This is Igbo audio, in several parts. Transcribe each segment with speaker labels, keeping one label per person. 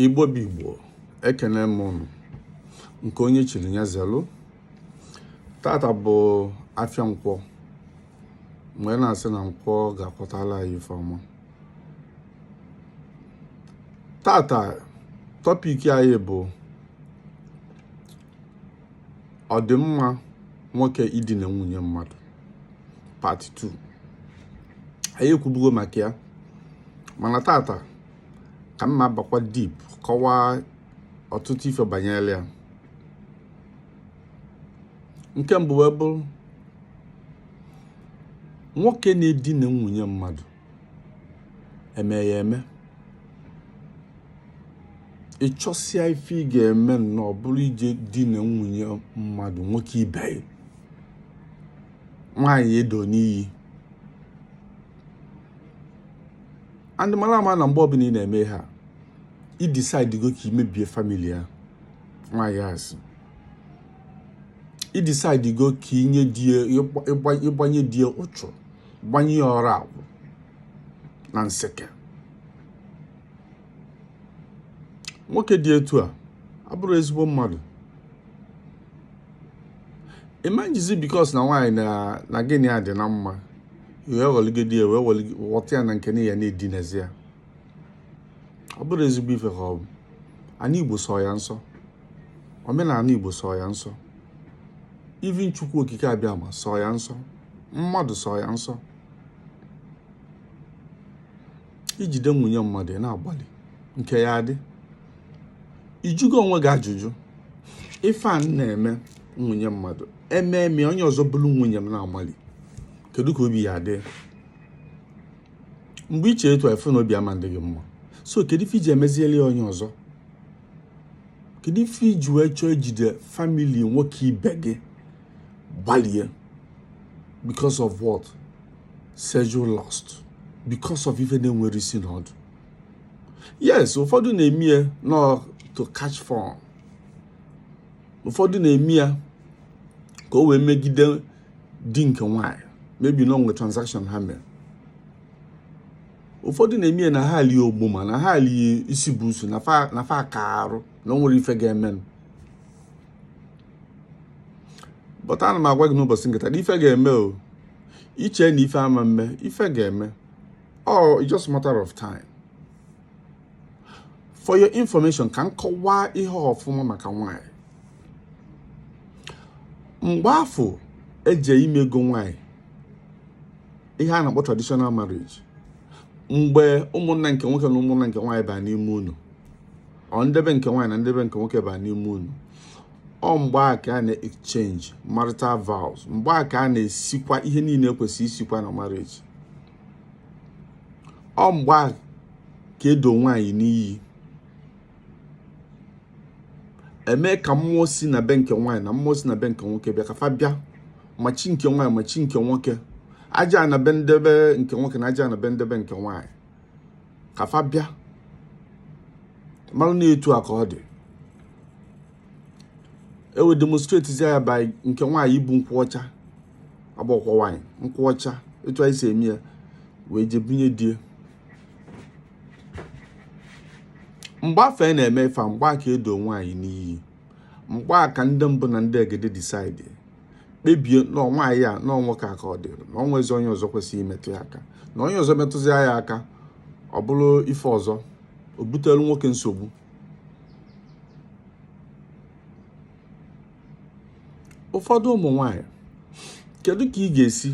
Speaker 1: igbo bụ igbo ekene m ụnụ nke onye chiri nya zelụ tata bụ afịa nkwọ m wee na-asị na nkwọ ga-akwọtala anyị ife ọma tata topic anyị bụ ọ dị mma nwoke idina nwunye mmadụ part 2 anyị ekwubugo maka ya mana tata ka m na-abakwa deep kọwaa ọtụtụ ife banyere ya nke mbụ wee bụrụ nwoke na-edina nwunye mmadụ eme ya eme ị chọsịa ife ị ga-eme na ọ bụrụ ije dina nwunye mmadụ nwoke ibe gị nwaanyị e do n'iyi and mara ama na mgbe ọbụla ị na-eme ihe a i decide go ka i mebie family ya nwaanyị asị i decide go ka i nye di ya ị gbanye di ya ụchụ gbanye ya ọrụ akwụ na nseke nwoke dị etu a abụrọ ezigbo mmadụ ị ma ejizi because na nwaanyị na gị na ya dị na mma wee ghọligide ya wee ghọta ya na nke na ya na-edinazi ya ọ bụrọ ezigbo ife ka ọ bụ anị igbo sọ ya nsọ omenaanị igbo sọ ya nsọ even chukwu okike abịama sọ ya nsọ mmadụ sọ ya nsọ ijide nwunye mmadụ na-agbalị nke ya adị ị jụgo onwe gị ajụjụ ife a m na-eme nwunye mmadụ ememe onye ọzọ bulu nwunye m na-agbalị kedu ka obi ya-adị mgbe i chere etu a ị fụ na obi ama adị gị mma so kedu ife i ji emeziele ya onye ọzọ kedu ife i ji wee chọọ ijide family nwoke ibe gị gbalie because of what sexual lust because of ife na-enwerọ isi na ọdụ yes ụfọdụ na-eme ya na to catch fun ụfọdụ na-eme ya ka o wee megide di nke nwanyị maybe na o nwe transaction ha mere ụfọdụ na-eme ya na ha alie ogbuma na ha alie isi buusu na fa akaa arụ na o nwerọ ife ga-emenụ but ana m agwa gị n'ụbọsị nke taa na ife ga-eme o i che na ife ama mme ife ga-eme oh it's just matter of time for your information ka m kọwaa ihe ọfụma maka nwanyị mgbe afụ eje ime ego nwanyị ihe a na-akpọ traditional marriage mgbe ụmụnna nke nwoke na ụmụnna nke nwaanyị baa n'ime ụnọ or nde be nke nwaanyị na nde be nke nwoke ba n'ime ụnọ ọ mgbe a ka a na-exchange marital vows mgbe a ka a na-esikwa ihe niile ekwesị isikwa na marriage ọ mgbe a ka edo nwaanyị n'iyi eme ka mmụọ si na be nke nwaanyị na mmụọ si na be nke nwoke bịa ka fa bịa ma chi nke nwaanyị ma chi nke nwoke aja ana be nde be nke nwoke na aja ana be nde be nke nwaanyị ka fa bịa mara na etu a ka ọ dị e wee demonstrate zi ya by nke nwaanyị ibu nkwụ ọcha agbakwa nwaanyị nkwụ ọcha etu anyị si eme ya wee jee bunye di e mgbe afụ a na-eme ife a mgbe a ka edo nwaanyị n'iyi mgbe a ka ndị mbụ na ndị egede decide kpebie na nwaanyị a na nwoke a ka ọ dịrị na o nwezi onye ọzọ kwesịrị imetụ ya aka na onye ọzọ metụzi ya aka ọ bụrụ ife ọzọ o butere nwoke nsogbu ụfọdụ ụmụ nwanyị kedu ka ị ga-esi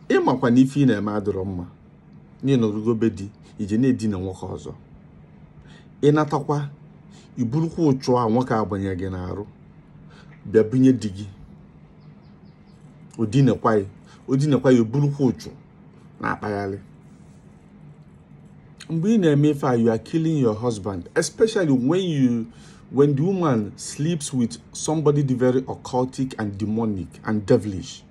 Speaker 1: ị makwa na ife ị na-eme adịrọ mma na ị nọrugo be di i je na-edina nwoke ọzọ ị natakwa i burukwa ụchụ a nwoke agbanye gị n'arụ bịa bunye di gị o dinekwa ya o dinekwa ya o burukwa ụchụ na-akpagharị mgbe ị na-eme ife a you are killing your husband especially when you when the woman sleeps with somebody very occultic and demonic and devilish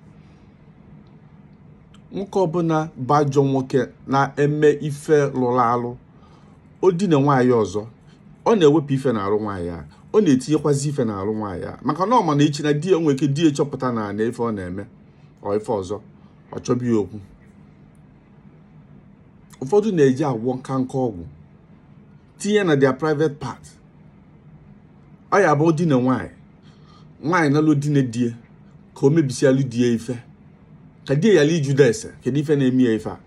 Speaker 1: nwoke ọbụna bụ ajọ nwoke na-eme ife lụrụ alụ o dina nwaanyị ọzọ ọ na-ewepụ ife n'arụ nwaanyị a ọ na-etinyekwazi ife n'arụ nwaanyị a maka na ọ ma na echi na di ya nwere ike di ya chọpụta na na ife ọ na-eme or ife ọzọ ọ chọbi ya okwu ụfọdụ na-eji agwọ nka nka ọgwụ tinye na their private part ọ ya bụ dina nwaanyị nwaanyị nalụ o dina di e ka o mebisialụ di ya ife ka di ya yala ijude ese kedu ife na-eme ya ife a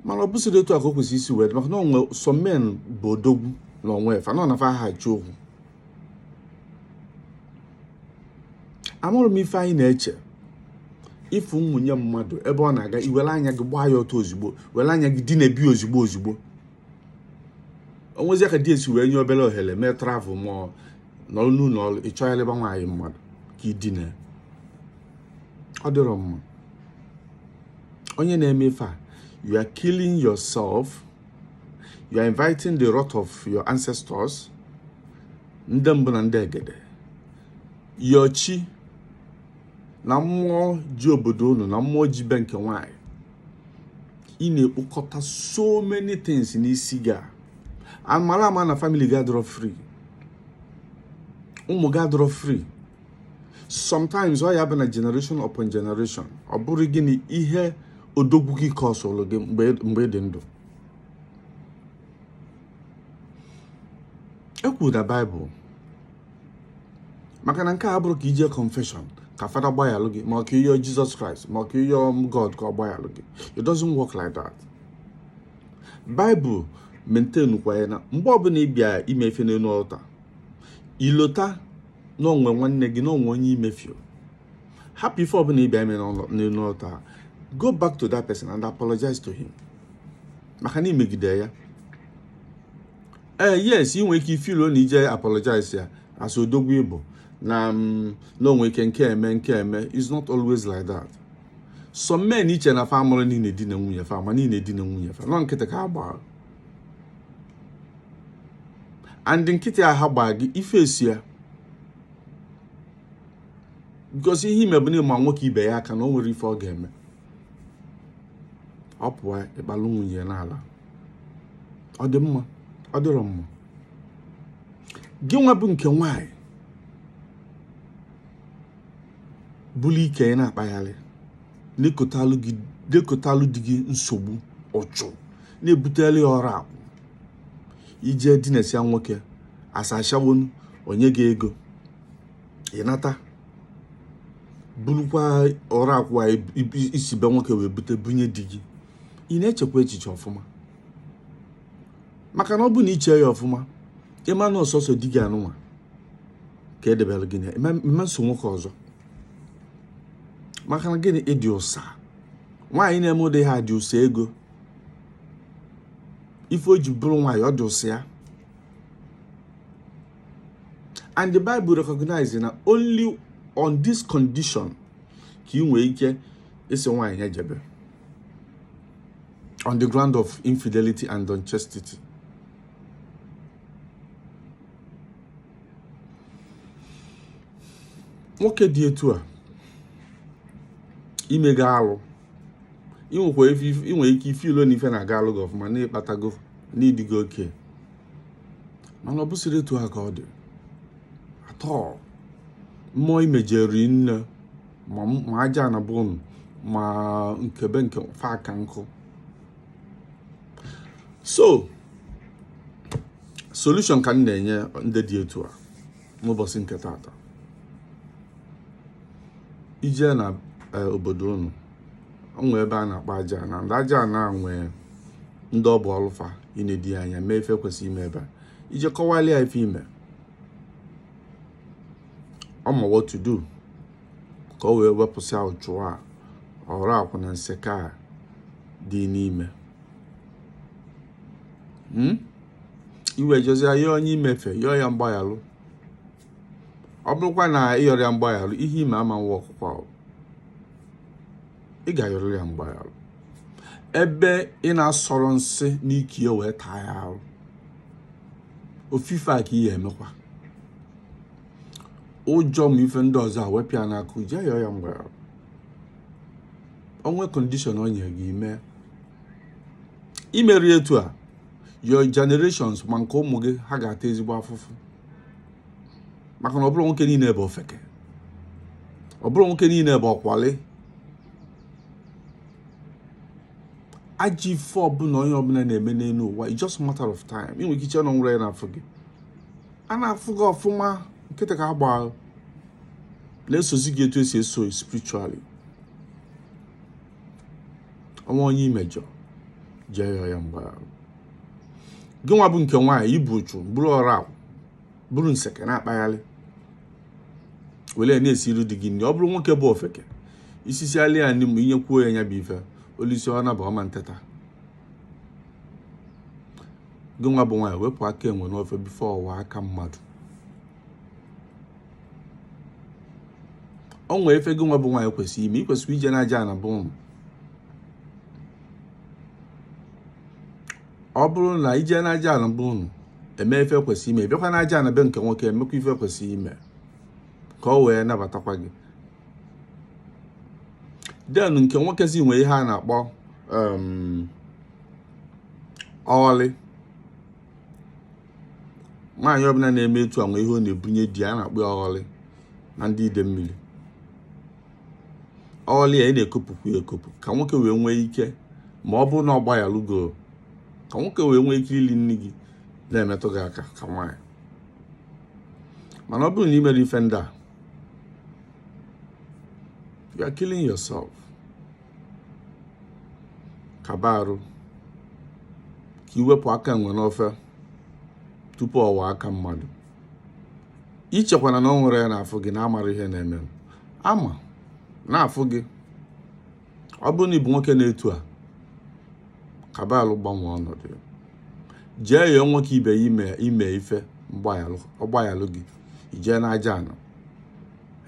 Speaker 1: mana ọ bụsịrị otu a ka o kwesịrị isi wee dị maka na o nwe some men bụ odogwu na onwe fa na ọ na fa aha ji okwu amarọ m ife anyị na-eche ị fụ nwunye mmadụ ebe ọ na-aga i were anya gị gbaa ya ọtọ ozugbo were anya gị dina ebi ozugbo ozugbo o nwezi aka di ya si wee nye obere ohere mee travel ma nọrọ n'ụlọ ọrụ ị chọ ya leba nwaanyị mmadụ ka i dina ọ dịrọ mma onye na-eme ife a you are killing yourself you are inviting the wrath of your ancestors ndị mbụ na ndị egede yochi na mmụọ ji obodo unu na mmụọ ji be nke nwanyị ị na-ekpokọta so many things n'isi gị and mara ama na family gị adọrọ free ụmụ gị adọrọ free sometimes ọ ya-abụ na generation upon generation ọ bụrụ gịnị ihe odogwu gị ka ọ sọlụ gị mgbe ị dị ndụ e kwuru na bible maka na nke a abụrọ ka i je confession ka fada gbayalụ gị ma ọ ka ị yọ jesus christ ma ọ ka ị yọ god ka ọ gbayalụ gị it doesn't work like that bible maintain kwa ya na mgbe ọbụla ị bịa ime ife n'elu altar i lota na o nwe nwanne gị na o nwe onye i mefiọ hapụ ife ọbụla ị bịa ime n'elu altar go back to that person and apologize to him maka na i megide ya ee eh, yes ị nwere ike i feel na ije apologize ya as odogwu ị bụ na mm, na o nwe ike nke a mee nke a mee is not always like that some men i che na fa amarọ na ị na-edina nwunye fa ma na ị na-edina nwunye fa na ọ nkịtị ka ha gbara and nkịtị a ha gbaa gị ife esi ya because ihe i me bụ na ị ma nwoke ibe ya aka na o nwere ife ọ ga-eme ọ pụọ ị kpalụ nwunye n'ala ọ dị mma ọ dịrọ mma gị nwa bụ nke nwaanyị buru ike ị na-akpagharị na-ekotalụ di gị nsogbu uchu na-ebutere ya ọrakwụ i je dinasịa nwoke asachawonu o nye gị ego ị nata burukwa ọrakwụ a i si be nwoke wee bute bunye di gị ị na-echekwa echiche ọfụma maka na ọ bụ na i chee ya ọfụma ị ma na ọ sọsọ di gị anụnwa ka e debere gị n'ị ma eso nwoke ọzọ maka na gịnị ị dị ụsa nwaanyị na-eme ụdị ha dị ụsa ego ife o ji bụrụ nwaanyị ọ dị ụsa ya and the bible recognize na only on this condition ka ị nwee ike ịsị nwaanyị ya jebe on the ground of infidelity and unchastity nwoke dị etu a i mega alụ inwekwa inwe ike ife ilo na ife na-agalụ gị ọfụma n'ịkpatago n'ịdịgo okay mana ọ bụsịrọ etu a ka ọ dị atọ mmụọ i mejọri nne ma ajaana bụ ma nke be nke fa aka nkụ so solution ka m na-enye ndị dị etu a n'ụbọsị nke taata i je na eh, obodo unu o nwee ebe a na-akpa ajaana ndị ajaana nwee ndị ọ bụ ọlụ fa inedo anya mee ife e kwesịrị ime ebe a i je kọwalị ya ife i me ọ ma what to do ka o wee wepụsịa uchu a ọra akwụ na nseke a dị n'ime hmm? i wee jezia onye i mefe yọọ ya mgbaghalụ ọ bụrọkwa na ị yọrọ ya mgbaghalụ ihe ime ama nwoke ọ kwa ị ga-ayọrị ya mgbaghalụ ebe ị na-asọrọ nsị n'ike ya wee taa ya arụ ofu ife a ka ị ya-emekwa ụjọ ma ife ndị ọzọ awepịa n'aka je yọọ ya mgbaghara o nwee condition o nyere gị mee i merọ etu a your generations ma nke ụmụ gị ha ga-ata ezigbo afụfụ maka na ọ bụrọ nwoke niine bụ ofeke ọ bụrọ nwoke niine bụ ọkwali ajọ ife ọbụna onye ọbụna na-eme n'enu ụwa it's just matter of time ị nwere ike iche na o nwerọ onye na-afụ gị a na-afụ gị ọfụma nkịta ka agba na-esozi gị etu esi eso spiritually ọnwa onye i mejọ jee yọọ ya mgbaghara gị nwa bụ nke nwaanyị i bu uchu buru ọra buru nseke na-akpagharị wele na-esiri di gị nri ọ bụrụ nwoke bụ ofeke i sisịalị ya nri mgbe i nyekwuo ya nya bụ ife o lisie ọ naba ọ ma nteta gị nwa bụ nwaanyị wepụ aka enwe n'ofe before ọ ghọọ aka mmadụ o nwee ife gị nwa bụ nwaanyị kwesịrị ime ikwesịrị ije na ajana be ụnụ ọ bụrụ na ije na ajana be ụnụ eme ife kwesịrị ime bịakwa na ajana be nke nwoke emekwa ife kwesịrị ime ka o wee nabatakwa gị then nke nwoke si nwee ihe a na-akpọ um, ọghọlị nwaanyị ọbụla na-eme etu a nwe ihe ọ na-ebunye di a na-akpọ ya ọghọlị na ndị Idemmiri ọghọlị a ị na-ekopụkwu ya ekopụ ka nwoke wee nwee ike ma ọ bụrụ na ọ gbayalụgo ka nwoke wee nwee ike ili nni gị na-emetụ gị aka ka nwaanyị mana ọ bụrụ na ị mere ife ndị a you are killing yourself kaba arụ ka i wepụ aka enwe n'ofe tupu ọ ghọọ aka mmadụ ichekwana na o nwerọ onye na-afụ gị na-amara ihe na-eme ama na-afụ gị ọ bụrụ na ị bụ nwoke na-etu a kaba arụ gbanwee ọnọdụ jee yọọ nwoke ibe ya ime ife ọ gbayalụ gị i jee n'ajana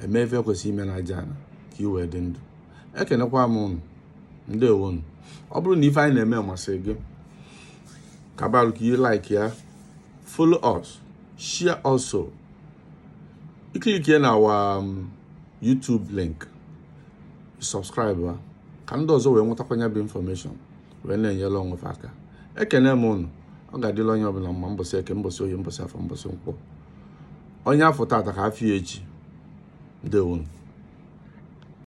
Speaker 1: eme ife kwesịrị ime n'ajana ka ị wee dị ndụ ekenekwa m ụnụ ndewo nụ ọ bụrụ na ife anyị na-eme masịrị gị kaba arụ ka ị like ya follow us share also ị click ya na our um, YouTube link subscribe ya ka ndị ọzọ wee nwetakwa nya bụ information wee na-enyere onwe fa aka ekene m ụnụ ọ ga-adịlị onye ọbụla mma mbọsị eke mbọsị oye mbọsị afọ mbọsị nkwọ onye a fụ tata ka a fụ ya echi ndewonu